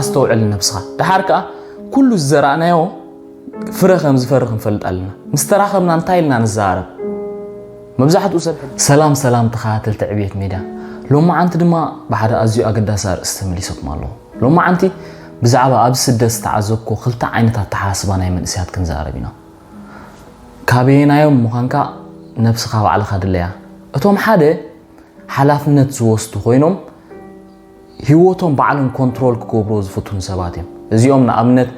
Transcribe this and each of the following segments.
ኣስተውዕል ነብስኻ ደሓር ከኣ ኩሉ ዝዘራእናዮ ፍረ ከም ዝፈሪ ክንፈልጥ ኣለና ምስ ተራኸብና እንታይ ኢልና ንዘራረብ መብዛሕትኡ ሰብ ሰላም ሰላም ተኸታተልቲ ዕብየት ሜድያ ሎማዓንቲ ድማ ብሓደ ኣዝዩ ኣገዳሲ ኣርእስቲ ተመሊሰኩም ኣለኹ ሎማዓንቲ ብዛዕባ ኣብ ስደት ዝተዓዘብኮ ክልተ ዓይነት ኣተሓሳስባ ናይ መንእሰያት ክንዛረብ ኢና ካበየናዮም ምዃንካ ነብስኻ ባዕልኻ ድለያ እቶም ሓደ ሓላፍነት ዝወስዱ ኮይኖም ሂወቶም ባዕሎም ኮንትሮል ክገብርዎ ዝፍትኑ ሰባት እዮም። እዚኦም ንኣብነት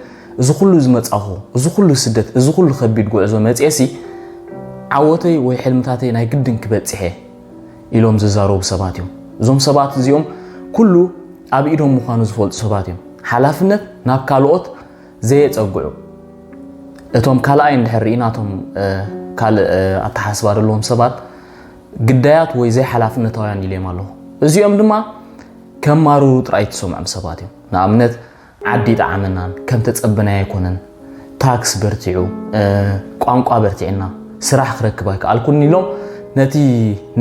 እዚ ኩሉ ዝመጻኹ እዚ ኩሉ ስደት እዚ ኩሉ ከቢድ ጉዕዞ መጽየሲ ዓወተይ ወይ ሕልምታተይ ናይ ግድን ክበጽሕ እየ ኢሎም ዝዛረቡ ሰባት እዮም። እዞም ሰባት እዚኦም ኩሉ ኣብ ኢዶም ምዃኑ ዝፈልጡ ሰባት እዮም። ሓላፍነት ናብ ካልኦት ዘየጸግዑ። እቶም ካልኣይ እንድሕር ርኢና እቶም ካልእ ኣተሓሳስባ ዘለዎም ሰባት ግዳያት ወይ ዘይሓላፍነታውያን ኢለዮም ኣለኹ። እዚኦም ድማ ከማርሩ ጥራይ እትሰምዖም ሰባት እዮም። ንኣብነት ዓዲ ኣይጠዓመናን፣ ከም ተጸበናዮ ኣይኮነን፣ ታክስ በርቲዑ፣ ቋንቋ በርቲዕና፣ ስራሕ ክረክብ ኣይከኣልኩን ኢሎም ነቲ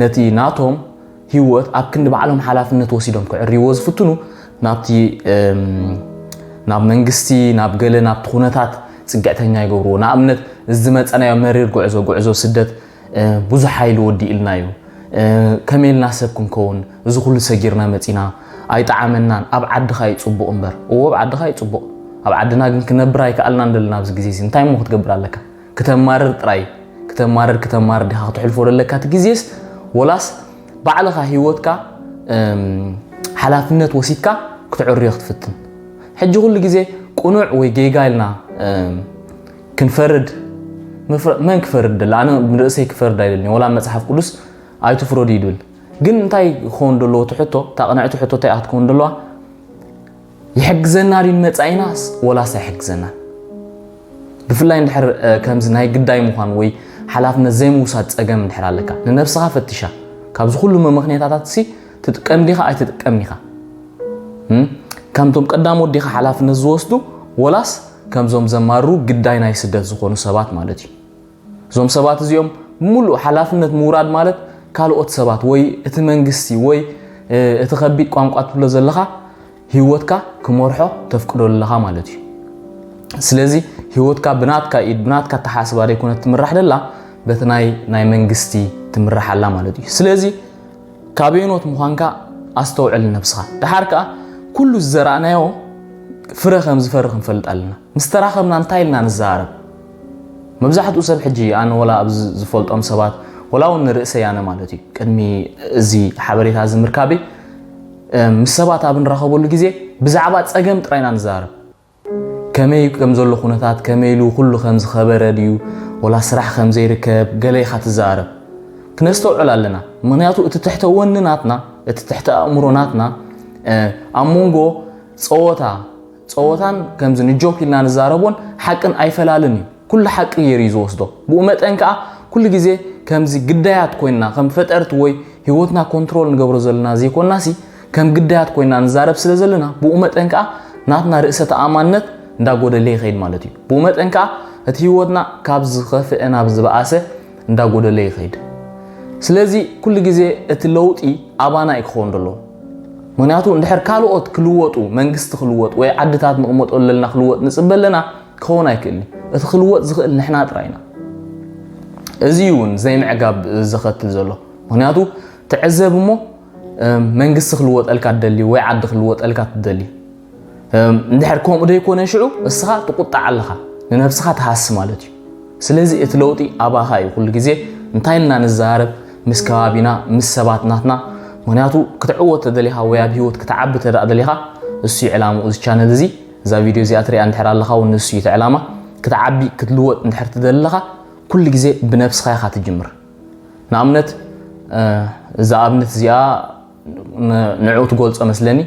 ነቲ ናቶም ህይወት ኣብ ክንዲ ባዕሎም ሓላፍነት ወሲዶም ክዕርይዎ ዝፍትኑ ናብቲ ናብ መንግስቲ ናብ ገለ ናብቲ ኩነታት ጽግዕተኛ ይገብርዎ። ንኣብነት እዚ ዝመጸናዮ መሪር ጉዕዞ ጉዕዞ ስደት ብዙሕ ሓይሊ ወዲኡልና እዩ ከመይ ኢልና ሰብ ክንከውን እዚ ኩሉ ሰጊርና መጺና ኣይጠዓመናን ኣብ ዓድኻ እዩ ጽቡቕ እምበር እዎ ኣብ ዓድኻ እዩ ጽቡቕ ኣብ ዓድና ግን ክነብር ኣይከኣልናን ዘለና ኣብዚ ግዜ እዚ እንታይ እሞ ክትገብር ኣለካ ክተማርር ጥራይ ክተማርር ክተማርር ዲኻ ክትሕልፎ ዘለካ እቲ ግዜስ ወላስ ባዕልኻ ሂወትካ ሓላፍነት ወሲድካ ክትዕርዮ ክትፍትን ሕጂ ኩሉ ግዜ ቅኑዕ ወይ ጌጋ ኢልና ክንፈርድ መን ክፈርድ ደለ ኣነ ንርእሰይ ክፈርድ ኣይደልን ወላ መጽሓፍ ቅዱስ ኣይትፍረዱ እዩ ድብል ግን እንታይ ክኸውን ደለዎ እቲ ሕቶ እታ ቅንዕቲ ሕቶ እንታይ ክትከውን ደለዋ ይሕግዘና ድዩ ንመጻኢናስ ወላስ ኣይሕግዘና ብፍላይ እንድሕር ከምዚ ናይ ግዳይ ምዃን ወይ ሓላፍነት ዘይምውሳድ ጸገም እንድሕር ኣለካ ንነብስኻ ፈትሻ ካብዚ ኩሉ መመኽንያታታት ሲ ትጥቀም ዲኻ ኣይትጥቀም ዲኻ ከምቶም ቀዳም ወዲኻ ሓላፍነት ዝወስዱ ወላስ ከምዞም ዘማሩ ግዳይ ናይ ስደት ዝኾኑ ሰባት ማለት እዩ እዞም ሰባት እዚኦም ሙሉእ ሓላፍነት ምውራድ ማለት ካልኦት ሰባት ወይ እቲ መንግስቲ ወይ እቲ ከቢድ ቋንቋ ትብሎ ዘለኻ ህይወትካ ክመርሖ ተፍቅዶ ኣለኻ ማለት እዩ ስለዚ ህይወትካ ብናትካ ኢድ ብናትካ ተሓስባ ዘይኮነት ትምራሕ ደላ በቲ ናይ መንግስቲ ትምራሕ ኣላ ማለት እዩ ስለዚ ካበየኖት ምዃንካ ኣስተውዕል ንነብስኻ። ደሓር ከኣ ኩሉ ዝዘራእናዮ ፍረ ከም ዝፈሪ ክንፈልጥ ኣለና። ምስ ተራኸብና እንታይ ኢልና ንዘራረብ? መብዛሕትኡ ሰብ ሕጂ ኣነ ወላ ኣብ ዝፈልጦም ሰባት ወላ እውን ንርእሰይ ኣነ ማለት እዩ ቅድሚ እዚ ሓበሬታ እዚ ምርካበይ ምስ ሰባት ኣብ ንራኸበሉ ግዜ ብዛዕባ ጸገም ጥራይ ኢና ንዘራረብ። ከመይ ከም ዘሎ ኩነታት ከመይ ኢሉ ኩሉ ከም ዝከበረ ድዩ ወላ ስራሕ ከም ዘይርከብ ገለ ኢካ ትዛረብ ክነስተውዕል ኣለና ምክንያቱ እቲ ትሕተ ወኒ ናትና እቲ ትሕተ ኣእምሮ ናትና ኣብ መንጎ ጸወታ ጸወታን ከምዚ ንጆክ ኢልና ንዛረቦን ሓቅን ኣይፈላልን እዩ ኩሉ ሓቂ ገይሩ እዩ ዝወስዶ ብኡ መጠን ከዓ ኩሉ ግዜ ከምዚ ግዳያት ኮይንና ከም ፈጠርቲ ወይ ህይወትና ኮንትሮል ንገብሮ ዘለና ዘይኮንናሲ ከም ግዳያት ኮይና ንዛረብ ስለ ዘለና ብኡ መጠን ከኣ ናትና ርእሰ ተኣማንነት እንዳ ጎደለ ይኸይድ ማለት እዩ። ብኡ መጠን ከኣ እቲ ህይወትና ካብ ዝኸፍኤ ናብ ዝበኣሰ እንዳ ጎደለ ይኸይድ። ስለዚ ኩሉ ግዜ እቲ ለውጢ ኣባና እዩ ክኸውን ደለዎ። ምክንያቱ እንድሕር ካልኦት ክልወጡ መንግስቲ ክልወጥ ወይ ዓድታት ንቕመጠሉ ለልና ክልወጥ ንጽበ ኣለና ክኸውን ኣይክእልን እዩ። እቲ ክልወጥ ዝኽእል ንሕና ጥራይ ኢና። እዚ እዩ እውን ዘይምዕጋብ ዘኸትል ዘሎ። ምክንያቱ ተዕዘብ እሞ መንግስቲ ክልወጠልካ ትደሊ ወይ ዓዲ ክልወጠልካ ትደሊ እንድሕር ከምኡ ዘይኮነ ሽዑ እስኻ ትቁጣዕ ኣለኻ ንነብስኻ ትሃሲ ማለት እዩ ስለዚ እቲ ለውጢ ኣባኻ እዩ ኩሉ ግዜ እንታይ እና ንዛረብ ምስ ከባቢና ምስ ሰባት ናትና ምክንያቱ ክትዕወት ተደሊኻ ወይ ኣብ ሂወት ክትዓቢ ተደኣ ደሊኻ እሱ እዩ ዕላምኡ እዚ ቻነል እዚ እዛ ቪድዮ እዚኣ ትሪኣ እንድሕር ኣለኻ እውን ንሱ እዩ እቲ ዕላማ ክትዓቢ ክትልወጥ እንድሕር ትደሊ ኣለኻ ኩሉ ግዜ ብነብስኻ ኢኻ ትጅምር ንኣብነት እዛ ኣብነት እዚኣ ንዕኡ ትገልጾ መስለኒ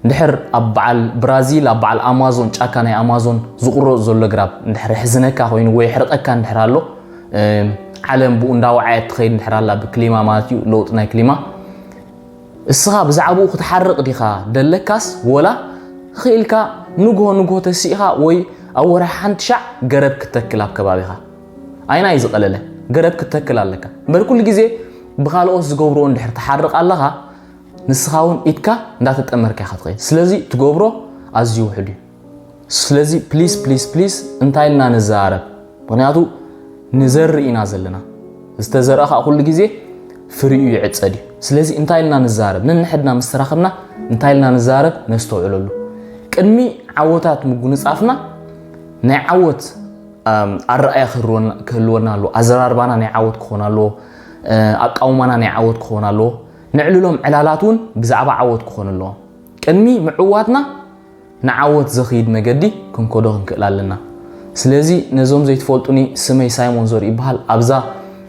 እንድሕር ኣብ በዓል ብራዚል ኣብ በዓል ኣማዞን ጫካ ናይ ኣማዞን ዝቑረፅ ዘሎ ግራብ እንድሕር ሕዝነካ ኮይኑ ወይ ሕርቐካ እንድሕር ኣሎ ዓለም ብኡ እንዳወዓየት ትኸይድ እንድሕር ኣላ ብክሊማ ማለት እዩ ለውጢ ናይ ክሊማ እስኻ ብዛዕባኡ ክትሓርቕ ዲኻ ደለካስ ወላ ኽኢልካ ንግሆ ንግሆ ተሲእኻ ወይ ኣብ ወርሒ ሓንቲ ሻዕ ገረብ ክተክል ኣብ ከባቢኻ ኣይናይ ዝቐለለ ገረብ ክትተክል ኣለካ እምበር ኩሉ ግዜ ብኻልኦት ዝገብርዎ እንድሕር ትሓርቕ ኣለኻ ንስኻ እውን ኢድካ እንዳተጠመርካ ኢኻ ትኸይድ ስለዚ ትገብሮ ኣዝዩ ውሕድ እዩ ስለዚ ፕሊስ ፕሊስ ፕሊስ እንታይ ኢልና ንዘራረብ ምክንያቱ ንዘርኢ ኢና ዘለና ዝተዘርአ ከዓ ኩሉ ግዜ ፍሪኡ ይዕፀድ እዩ ስለዚ እንታይ ኢልና ንዘራረብ ነንሕድና ምስ ተራኸብና እንታይ ኢልና ንዘራረብ ነስተውዕለሉ ቅድሚ ዓወታት ምጉንፃፍና ናይ ዓወት ኣረኣእያ ክህልወና ኣለዎ፣ ኣዘራርባና ናይ ዓወት ክኾን ኣለዎ፣ ኣቃውማና ናይ ዓወት ክኾን ኣለዎ፣ ነዕልሎም ዕላላት እውን ብዛዕባ ዓወት ክኾኑ ኣለዎም። ቅድሚ ምዕዋትና ንዓወት ዘኽይድ መገዲ ክንከዶ ክንክእል ኣለና። ስለዚ ነዞም ዘይትፈልጡኒ ስመይ ሳይሞን ዘርኡ ይበሃል። ኣብዛ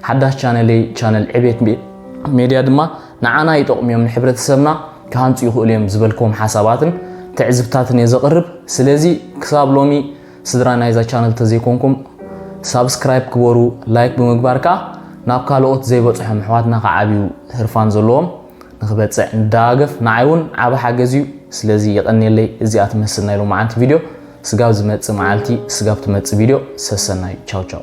ሓዳሽ ቻነለይ ቻነል ዕቤት ሜድያ ድማ ንዓና ይጠቕሙ እዮም ንሕብረተሰብና ክሃንፁ ይኽእሉ እዮም ዝበልክዎም ሓሳባትን ትዕዝብታትን እየ ዘቕርብ። ስለዚ ክሳብ ሎሚ ስድራ ናይዛ ቻነል ተዘይኮንኩም ሳብስክራይብ ግበሩ ላይክ ብምግባር ከኣ ናብ ካልኦት ዘይበጽሖም ኣሕዋትና ክዓብዩ ህርፋን ዘለዎም ንክበጽዕ ንደጋገፍ ንዓይ እውን ዓቢ ሓገዝ እዩ ስለዚ የቀንየለይ እዚኣ ትመስል ናይ ሎማዓንቲ ቪድዮ ስጋብ ዝመጽእ መዓልቲ ስጋብ ትመጽእ ቪድዮ ሰሰናዩ ቻው ቻው